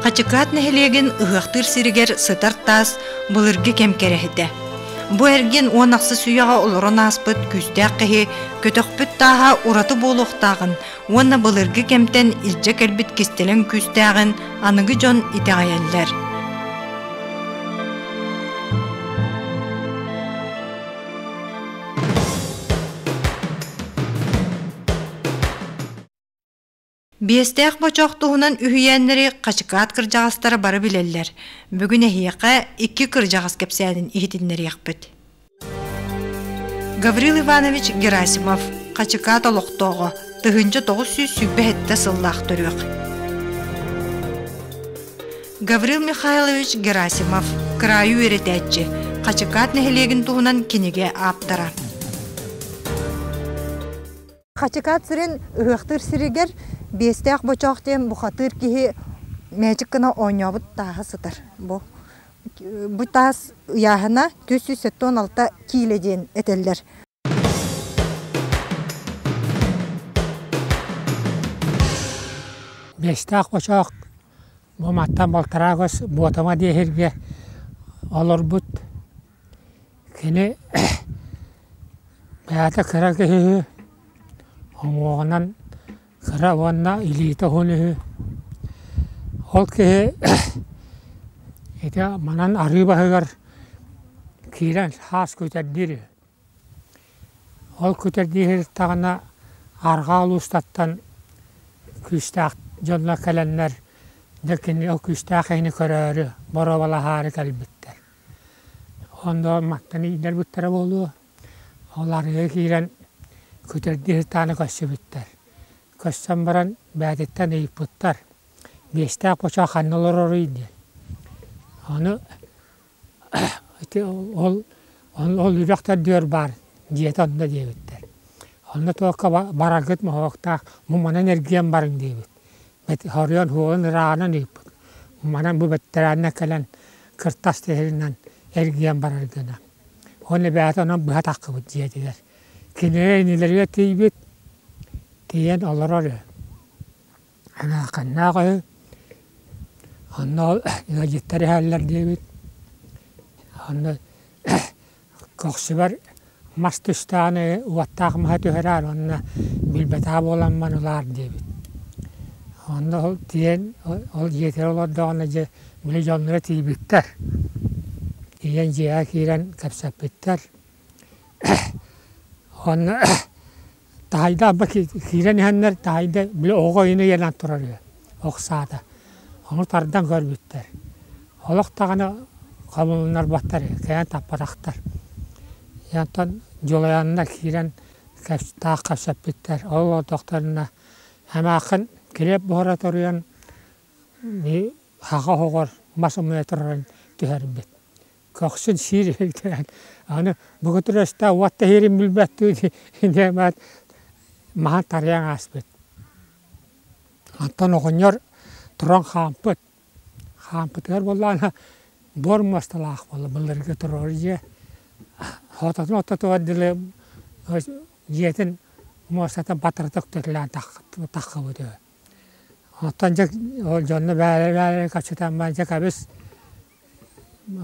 Хачыкаат нэһилиэгин ыһыахтыыр сиригэр сытар таас былыргы кэм кэрэһитэ. Бу эргин уон ахсыс үйэҕэ олорон ааспыт күүстээх киһи көтөхпүт тааһа ураты буолуохтааҕын уонна былыргы кэмтэн илдьэ кэлбит кистэлэҥ күүстээҕин аныгы дьон итэҕэйэллэр. Биэстээх бочох туһунан үһүйээннэри Хачыкаат кырдьаҕастара бары билэллэр. Бүгүн эһиэхэ икки кырдьаҕас кэпсээнин иһитиннэриэхпит. Гаврил Иванович Герасимов Хачыкаат олохтооҕо тыһыынча тоҕус сүүс сүүрбэ сэттэ сыллаах төрүөх Гаврил Михайлович Герасимов кыраайы үөрэтээччи Хачыкаат нэһилиэгин туһунан кинигэ ааптара Хачыкаат сирин ыһыахтыыр сиригэр биэстээх бочоох диэн бухатыыр киһи мээчик гына оонньообут тааһа сытар. Бу бу таас ыйааһына түөрт сүүс сэттэ уон алта киилэ диэн этэллэр. Биэстээх бочоох Бу маттан балтараа көс Буотама диэһиргэ олорбут кини бэйэтэ кыра киһи үһү, уҥуоҕунан кыра уонна илиитэ уһун үһү. Ол киһи ити манан арыы баһыгар киирэн саас күүтэрдиир үһү. Ол көтөрдүү сырыттаҕына арҕаа улуустартан күүстээх дьоннор кэлэннэр дьэ кини ол күүстээх киһини көрөөрү боруобалаһаары кэлбиттэр. Ону мантан иитэрбиттэрэ буолуо, ол арыйа киирэн көтөрдүү сырыттаҕына көрсүбүттэр. Көрсөн баран бээтиттэн ыйыппыттар: «Биэстээх бочуот ханна олороруй?» диэн. Ону Ити ол ол үрэхтэрдигэр баар дьиэтэ онно диэбиттэр. Онно туохха бараргыт моһуоктаах муманан эргийэн барыҥ диэбит. Оройуон уһугун ырааҕынан ыыппыт. Муманан бу бэттэрээҥҥэ кэлэн кыртас тиһигинэн эргийэн барар гына. Уонна эбээтэ онон быһа таххыбыт дьиэтигэр. Кинилэр инилэригэр тиийбит, тиийэн олорор үһү. Анааканнаах үһү, онно ыалдьыттар иһэллэр диэбит, онно көхсүбэр мас тустаан уоттаах маһа түһэрээр уонна билбэтэх буоламмын ылаар диэбит. Онно ол тиийэн ол дьиэтигэр олордоҕуна дьэ били дьонноро тиийбиттэр, тиийэн дьиэҕэ киирэн кэпсэппиттэр. Уонна Таһайда алба киирэн иһэннэр таһайда били оҕо иһин ыйанан турар үһү уксаата. Ону тардан көрбүттэр. Олох даҕаны хомулуннарбаттар үһү кэйэн таппатахтар. Дьэ онтон дьулайанна киирэн таах кэпсэппиттэр. Ол олордохторуна эмээххин килиэп буһара торуйан аҕа оһоҕор мас умуйа турарын түһэрбит. көхсүн сииригитээн аны бүгүтүр өстөөх уот тэһиирин билбэттиин инээмэт маһан тарыйан ааспыт оттон оҕонньор туран хаампыт хаампытыгар буоллаҕына буор муосталаах буолла былыргы туруору дьиэ хототун ортотугар дылы дьиэтин муостата батырытык төтөлөөн таххыбыт үһү оттон дьэ ол дьонно бээлэ бээлэ көччүтэн баран дьэ кэбис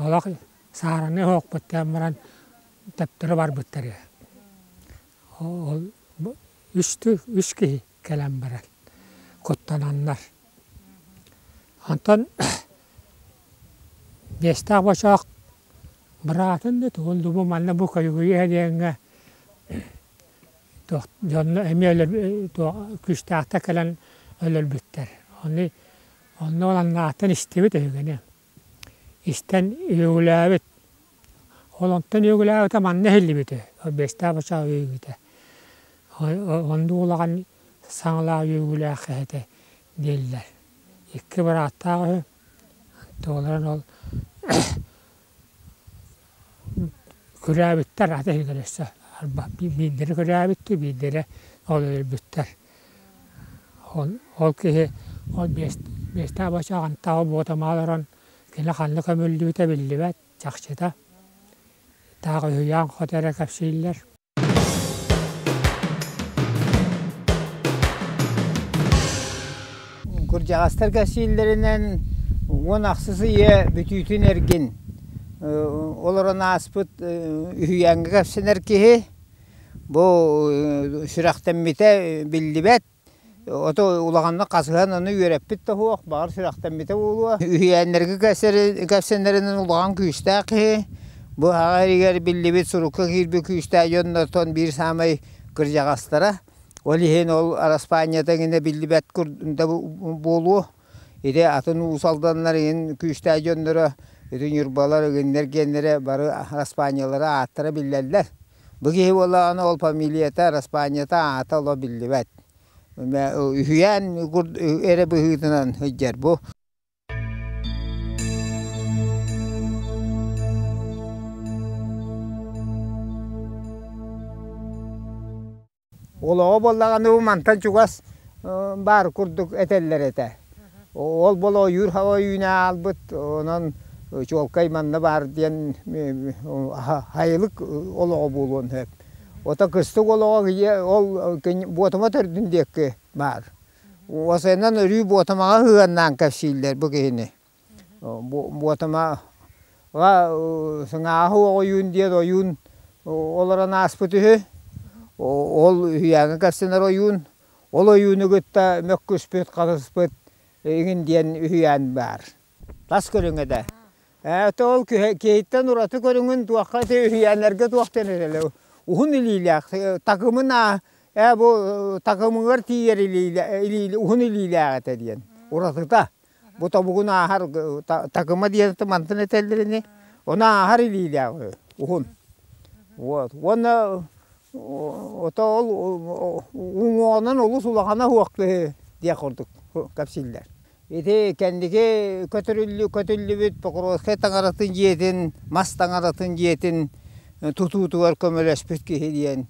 олох саараны оһохпут кээн баран төптөрү барбыттар үһү. Ол үстүү үс киһи кэлэн баран куттананнар. Онтон биэстээх бочоох быраатын да тугун да бу манна бу көлүгүйэ диэҥҥэ туох дьонно эмиэ өлөр туох күүстээхтэр кэлэн өлөрбүттэр. Аны Онно Лаҥааттан истибит үһүгүнү. Истэн үөгүлээбит. Ол онтон үөгүлээбитэ манна иһиллибит үһү. Орбеецтаах баччаҕа үөгүтэ. Оннук улахан саҥалаах үөгүлээх этэ дииллэр. Икки бырааттаах үһү. Туолан ол Күрээбиттэр ate иһигэр өссө арба биирдэрэ күрээбиттэр биирдэрэ ол өлбүттэр. Ол ол киһи ол биэс биэстээх бачча хантаал буотамаал олорон кини ханна көмүллүбүтэ биллибэт чахчыта. Таах үһүйээн хото эрэ кэпсииллэр. Кырдьаҕастарга сииллэринэн уон ахсыс ийэ бүтүүтүн эргин олорон ааспыт үһүйээҥҥэ кэпсэнэр киһи бу сүрэхтэммитэ биллибэт. Ото улаханнык хасыһан аны үөрэппит да суох, баҕар сүрэхтэммитэ буолуо. Үһүйээннэргэ кэпсэнэринэн улахан күүстээх киһи. Бу аҕа эригэр биллибит сурукка киирбит күүстээх дьон оттон биир саамай кырдьаҕастара. Ол иһин ол араспаанньата гинэ биллибэт да буолуо. Ити атын уус алданнар иһин күүстээх дьонноро ити ньурбалар, игиннэр гиэннэрэ бары араспаанньалара ааттара биллэллэр. Бу киһи буоллаҕына ол фамилията, араспаанньата аата оло биллибэт. Үһүйээн эрэ быһыытынан сылдьар бу. Олоҕо буоллаҕына бу мантан чугас баар курдук этэллэр этэ. Ол болуойуур ойууну аалбыт, онон чуолкай манна баар диэн хайылык олоҕо буолуон сөп. Ото кыстык олоҕо ол Буотума төрдүн диэкки баар. Осеннан өрүү Буотумаҕа ыһыаннаан кэпсииллэр бу киһини. Буотама Сыҥааһы оҕуйуун диэн ойуун олорон ааспыт үһү. Ол үһүйээҥҥэ көрсүнэр ойуун. Ол ойууну кытта мөккүспүт, хатыспыт иҥин диэн үһүйээн баар. Тас көрүҥэ да. Ээ ити ол киһиттэн ураты көрүҥүн туохха ити үһүйээннэргэ туохтан эрэлэй уһун илиилээх такымына ээ бу такымыгар тиийэр илиилээх уһун илиилээх этэ диэн уратыта. Бу тобугун ааһар такыма диэни мантан этэллэр ини ону ааһар илиилээҕи уһун вот уонна ото ол уҥуоҕунан олус улахана уохтуһу диэх курдук кэпсииллэр ити кэнники көтүрүллүбүт покровскай таҥаратын дьиэтин мас таҥаратын дьиэтин тутуутугар көмөлөспүт киһи диэн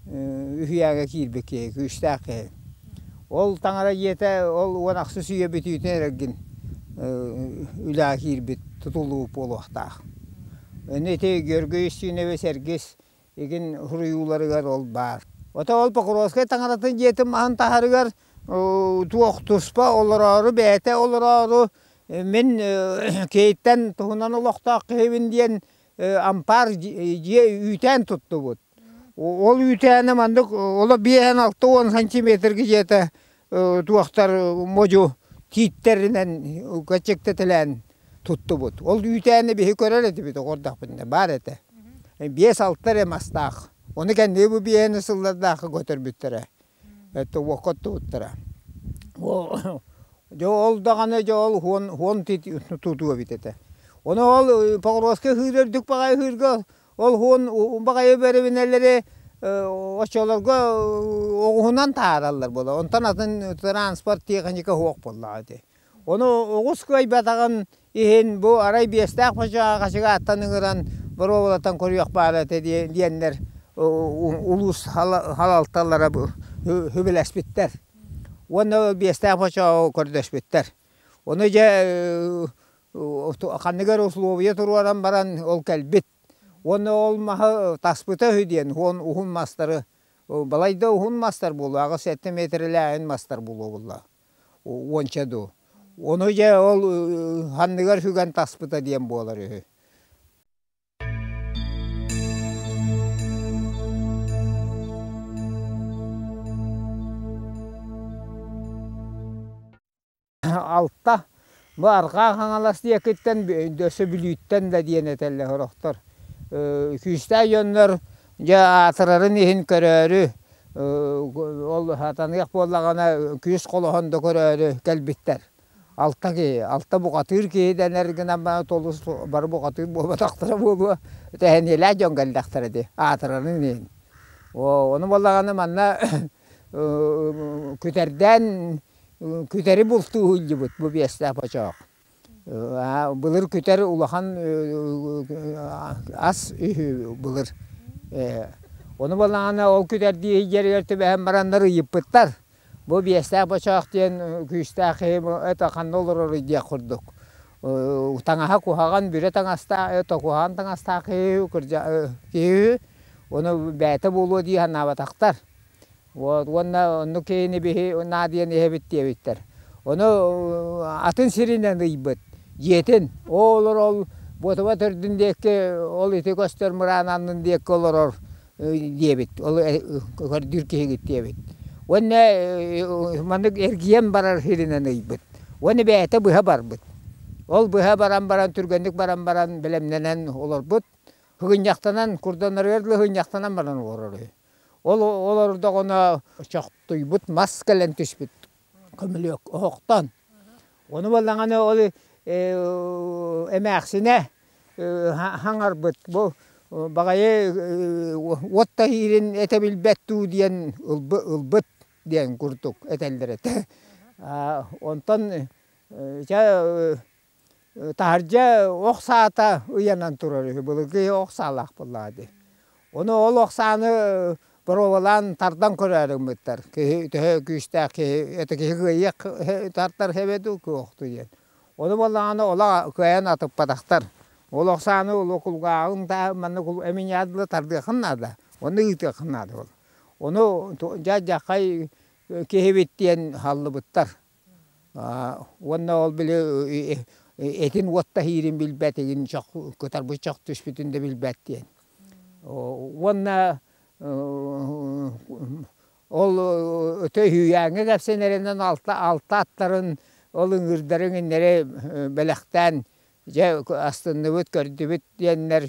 үһүйээгэ киирбит киһи, күүстээх киһи. Ол таҥара дьиэтэ ол уон ахсыс үйэ бүтүүтүн эрэргин үлэҕэ киирбит тутулуу буолуохтаах. Аны ити Георгий Устинович Эргис игин суруйууларыгар ол баар. Ото ол Покровскай таҥаратын дьиэтин маһын таһарыгар туох туспа олороору бэйэтэ олороору мин Киһиттэн туһунан олохтоох киһибин диэн ампаар дьиэ үүтээн туттубут. Ол үүтээни маннык оло биэһэн алта уон сантиметрга дьиэтэ туохтар модьу тииттэринэн кэчэктэтэлээн туттубут. Ол үүтээни биһи көрөр этибит оҕордохпутуна баар этэ. Биэс-алта эрэ мастаах. Ону кэнники бу биэһэни сыллардаахха көтөрбүттэрэ. это уокко туттара дьэ ол даҕаны дьэ ол уон уон тутуо эбит этэ ону ол Покровскай ыһыыр үрдүк баҕайы ыһыырга ол уон баҕайы бэрэбинэлэри оччолорго оҕуһунан таараллар буолар онтон атын транспорт тиэхиньикэ суох буоллаҕа ити Ону оҕус кыайбатаҕын иһин бу арай биэстээх хочоҕоҕачыга аттан ыҥыран боруобалатан көрүөх баара этэ диэннэр улуус халалталара сөбүлэспиттэр уонна биэстээх хочоҕоҕо көрдөспүттэр. Ону дьэ ханныгар условия туруоран баран ол кэлбит уонна ол маһы таспыта үһү диэн уон уһун мастары балайда уһун мастар буолуо аҕыс сэттэ миэтэрэлээһин мастар буолуо буоллаҕа. уонча дуу ону дьэ ол анныгар сүгэн таспыта диэн буолар үһү алта Бу Арҕаа Хаҥалас диэкиттэн өссө Бүлүүттэн да диэн этэллэр сорохтор. Күүстээх дьоннор дьэ аатырарын иһин көрөөрү ол сатаныах буоллаҕына күүс холоһон да көрөөрү кэлбиттэр. Алта киһи, алта бухатыыр киһи дэнэр гынан толус бары бухатыыр буолбатахтара буолуо, тэһэниэлээх дьон кэллэхтэрэ дии аатырарын иһин. Ону буоллаҕына манна күтэрдээн Күтэри бултуу иһиллибит бу биэстээх бочоох. былыр күтэр улахан ас үһү былыр. Ону балаҕана ол күтэрдии иһиллэригэр түбэһэн бараннар ыйыппыттар. Бу биэстээх бочоох диэн күүстээх киһи это ханна олороруй диэх курдук. таҥаһа куһаҕан бүрэ таҥастаах токуһаан таҥастаах киһи кырдьа киһи үһү. Ону бэйэтэ буолуо дии санаабатахтар. уонна оннук киһини биһи наадыйан иһэбит диэбиттэр. Ону атын сиринэн ыйбыт дьиэтин, оо олорол буотуба төрдүн диэкки ол ити көстөр мыраан аннын диэкки олорор диэбит, ол көрдүүр киһигит диэбит. Уонна маннык эргийэн барар сиринэн ыйбыт. Уонна бэйэтэ быһа барбыт. Ол быһа баран баран түргэнник баран баран бэлэмнэнэн олорбут. Һыгынньахтанан, курданарыгар дылы һыынньахтанан баран олорор үһү. Ол олордоҕуна чохтуйбут мас кэлэн түспүт көмүлүөк оһохтон. Ону буоллаҕына ол эмээхсинэ хаҥарбыт бу баҕайы уот таһиирин этэ билбэт дуу диэн ылбыт диэн курдук этэллэр этэ. Онтон чэ Таһырдьа ох саата ыйанан турар үһү, былыргы ох саалаах буоллаҕа дии. Ону ол ох сааны боруобалаан тардан көрөөрү гыммыттар. Киһи төһө күүстээх киһи, это киһи кыайыах тартар эбэ дуу, куохтуу диэн. Ону буоллаҕына ола кыайан атыппатахтар. Ол ох сааны кулгааҕын да манна эмиийинэ дылы тардыаххын наада, ону ыытыаххын наада ол. Ону дьаадьаххай киһибит диэн аһаллыбыттар. уонна ол били итин уот таһиирин билбэтигин кытарбыт чох түспүтүн да билбэт диэн. Уонна ол өтө үһүйээҥҥэ кэпсэн эрэнэн алта алта аттарын ол ыҥыырдарын иннэри бэлэхтээн дьэ астынныбыт көрдүбүт диэннэр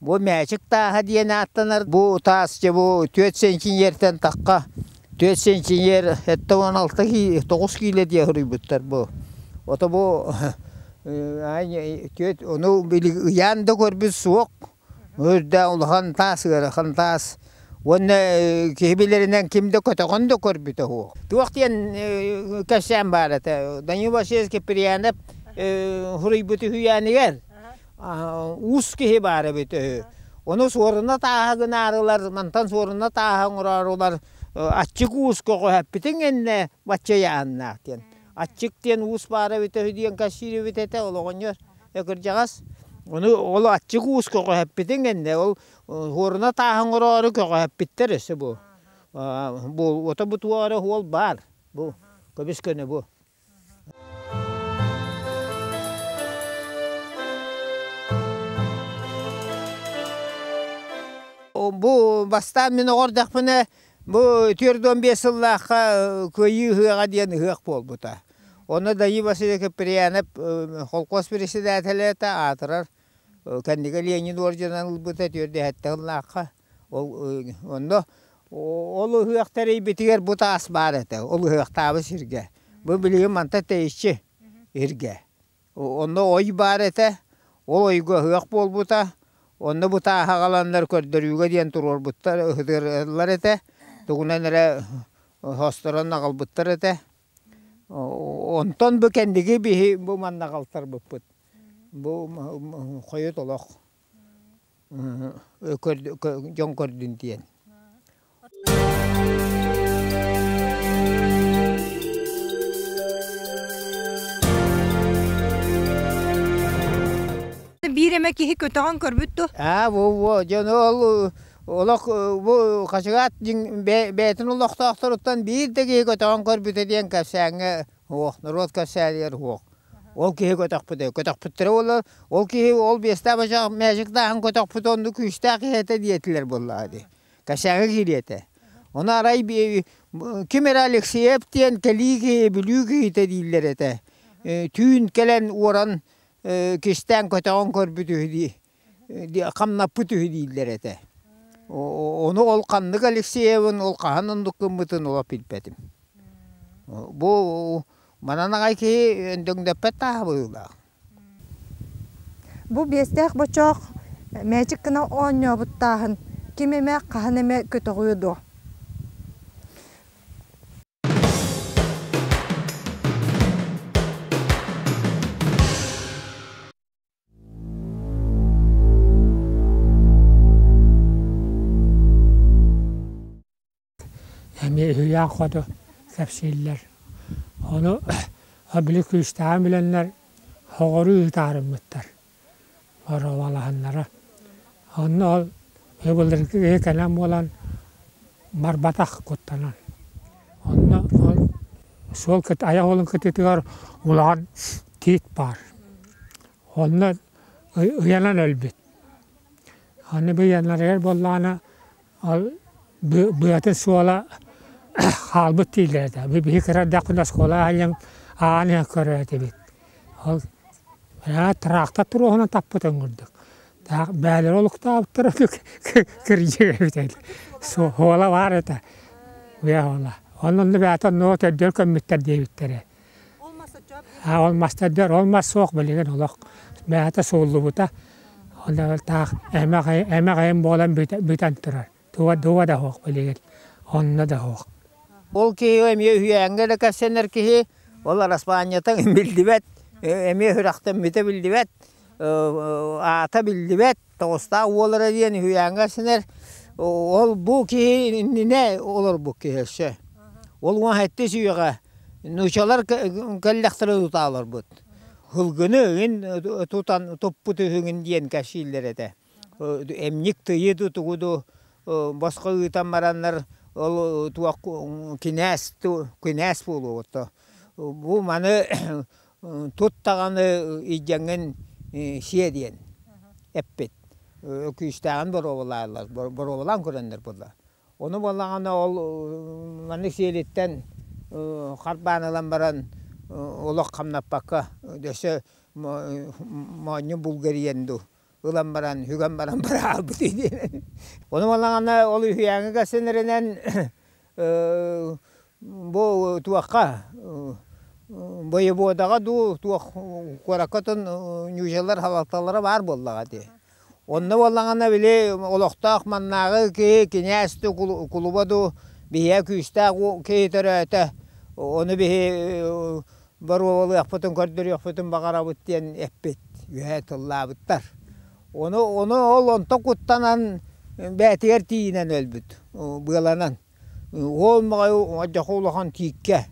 Бу мээчик тааһа диэн ааттанар. Бу таасчебу түөрт сентимиертэн тахха түөрт сентимиер этэ уон алта кии тоҕус киилэ диэ суруйбуттар бу. Ото бу түөрт ону ыйаан да көрбүт суох өрдө улахан таас ыарахан таас уонна киһи билэринэн ким да көтөҕөн да көрбүтэ уһу. Туох диэн кэпсээн баар этэ Данил Васильевич Киприянов суруйбут үһүйээнигэр уус киһи баар эбит үһү. Ону суоруна тааһа гынаарылар, мантан суоруна тааһа оҥороорулар аччык уус көҕүһэппитиҥ иннэ баччайааннаах диэн. Аччык диэн уус баара эбитэ үһү диэн кассиирибит этэ ол оҕонньор экырдьаҕас. Ону ол аччык уус көҕүһэппитиҥ иннэ ол суоруна тааһа оҥороору көҕүһэппиттэр өссө бу. Бу уота бутуоҕа эрэ уол баар бу көбүс көнө бу. Бу бастаан мин оҕордохпуна бу түөрт уон биэс сыллаахха Кыайыы ыһыаҕа диэн ыһыах буолбута. Онно Даи Василий Куприянов холкуос председателэ аатырар кэннигэ Ленин орденын ылбыта түөртдүһэттэ сыллаахха. Онно ол ыһыах тэрийбитигэр бу таас баар этэ, ол ыһыахтаабы сиргэ. Бу билигин мантан тэйиччи иргэ. Онно ой баар этэ, ол ойго ыһыах буолбута. Онно бу тааһы аҕаланнар көрдөрүүгэ диэн туруорбуттар, ыһытырлар этэ. Тугунан эрэ хосторон аҕалбыттар этэ. Онтон бу кэнниги биһи бу манна аҕалтарбыппыт. Бу хойут олох. дьон көрдүн диэн биир эмэ киһи көтөҕөн көрбүт дуо аа бу дьону ол олох бу хачыгаат бэйэтин олохтоохторуттан биир да киһи көтөҕөн көрбүтэ диэн кэпсээҥҥэ Оһ, норуот кэпсээнигэр оһ. Ол киһи көтөхпүтэ. Көтөхпүттэрэ буоллар, ол киһи ол биэстээх бачаах мээчиктааһын көтөхпүтэ оннук күүстээх киһи этэ диэтилэр буоллаҕа дии. Кэчээҥҥэ киириэ этэ. Ону арай ким эрэ Алексеев диэн кэлии киһи, бүлүү киһитэ дииллэр этэ. Түүн кэлэн уоран кистээн көтөҕөн көрбүт үһү дии. хамнаппыт үһү дииллэр этэ. Ону ол ханнык Алексеевын, ол хаһан оннук гыммытын олох билбэтим. Бу манан аҕай киһи өндөҥдөппөт тааһа быһыылаах. Бу биэстээх бочоох мээчик гына оонньообут тааһын ким эмэ хаһан эмэ көтөҕүө дуо? эмиэ үһүйээн хоту кэпсииллэр. Ону били күүстээҕин билэннэр, хоҕору ыытаарыммыттар. Боровалаһыннара. Онно ыбылы киһи кэлэн буолан барбатах куттанан. Онно ол суол айах уолун кытыытыгар улахан тиит баар. Онно ыйанан өлбүт. Аны бу ыйанарыгар буоллаҕына Ол быата-суола хаалбыт дииллэр этэ, биһиги кыра эрдэхпинэ оскуола аайын аан иһэн көрөр этибит. Ол тыраахта туруоһунан таппытын курдук. Бээлэри олуктаабыттара кирдьигэбит ини. Суола баар этэ, бэйэ оҕоло. Онно бэйэтэ ноо төрдүгэр көммүттэр диэбиттэрэ. А ол мастардьор ол мас суох билигин олох бэйэтэ сууллубута. Ол эрэ таах эмэх эмэх эм буолан бүтэн турар. Туга дуга да суох билигин. Онно да суох. Ол киһи эмиэ үһүйээҥҥэ да кэпсэнэр киһи ол араспаанньатын билдибэт эмиэ үрэхтэн бүтэ билдибэт аата биллибэт тоҕустаах уол эрэ диэн үһүйээҥҥэ сэнэр ол бу киһи иннинэ олорбут киһи өссө ол уон сэттис үйэҕэ нуучалар кэллэхтэрэ тута олорбут һылгыны ыгын тутан туппут үһүгүн диэн кэпсииллэр этэ эмньик тыйы да тугу да босхо ыытан бараннар ол туох кинээс кинээс буолуоҕуттан бу маны Тут даҕаны илдьэҥҥин сиэ диэн эппит. Өкүүстээҕин боруобалааллар, боруобалаан көрөннөр буоллар. Ону буоллаҕына ол маннык сиэлиттэн харбаан ылан баран олох хамнаппакка өссө моонньу булгу эрийэн дуу ылан баран үһүгэн баран бары хаалбыт диэн. Ону манна ол үһүйээҥҥэ кэпсэнэринэн бу туохха боеводаҕа дуу туох куоракка отон ньуучалар халалталара баар буоллаҕа дии. Онно буоллаҕына били олохтоох маннааҕы киһи кинээс да кулуба ду биһиэхэ күүстээх киһи төрөөтө. Ону биһи боруобалыахпытын көрдөрүөхпүтүн баҕарабыт диэн эппит үөһэ тыллаабыттар. Ону ону ол онто куттанан бээтигэр тиийинэн өлбүт быаланан. Уол моҕойу одьохо улахан тииккэ.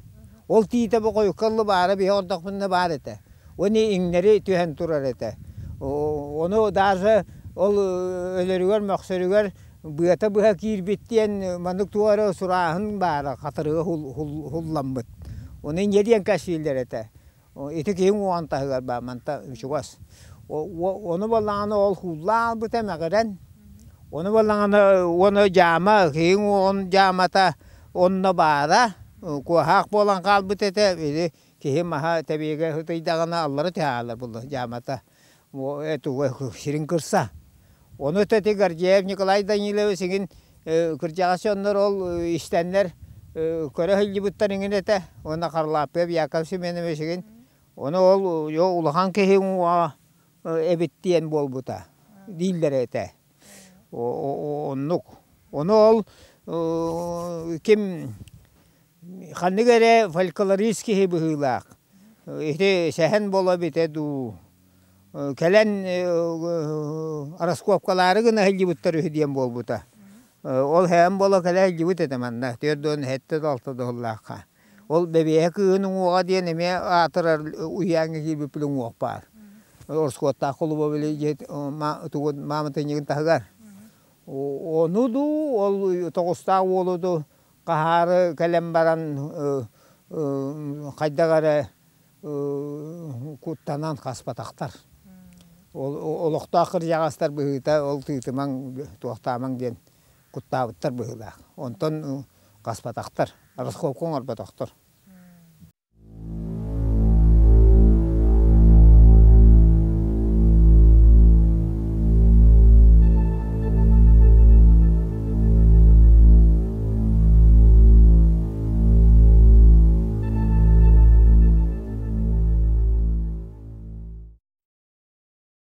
Ол тиитэ боҕойукка ылла баара биһи ордохпунна баар этэ. Уонна иҥнэри түһэн турар этэ. Ону даже ол өлөрүгэр мөхсөрүгэр быата быһа киирбит диэн маннык туох эрэ сурааһын баара хатырыга уһулламмыт. Ону иньэ диэн кэпсииллэр этэ. Ити киһи уҥуоҕун таһыгар баар мантан чугас. Ону балаҕана ол кууллаабыта мэҕирэн, ону балаҕана уона дьаама киһи уҥуоҕун дьаамата онно баара куоһаах буолан хаалбыт этэ. Били киһи маһа тэбиэгэ сытыйдаҕына аллара түһэҕэ буолла дьаамата. сирин кырса. Ону эти Гордеев Николай Данилович игин кырдьаҕастар ол истэннэр көрө сылдьыбыттар игин этэ уонна Харалааппыап Яков Семенович игин ону ол улахан киһи уҥуоҕа эбит диэн буолбута дииллэрэ этэ. Оннук. Ону ол ким ханнык эрэ фольклорист киһи быһыылаах. Ити сэһэн буола эбитэ дуу, кэлэн раскопкалаары гына сылдьыбыттар үһү диэн буолбута. Ол сэһэн буола кэлэ сылдьыбыт этэ манна, төрдүөн, сэттэ да, алта да сыллаахха. Ол бэбиэһэ кыһын уҥуоҕа диэн эмиэ аатырар уһуйааҥҥа киирбиппин уҥуох баар. Ороскуоттаах кулуба били дьиэ тугу мааматынньыгын таһыгар. Ону дуу, ол тоҕустаах уолу дуу хаһаары кэлэн баран хайдах эрэ куттанан хаспатахтар. Олохтоох кырдьаҕастар быһыыта ол тыытымаҥ, туохтаамаҥ диэн куттаабыттар быһыылаах онтон хаспатахтар раскопка оҥорботохтор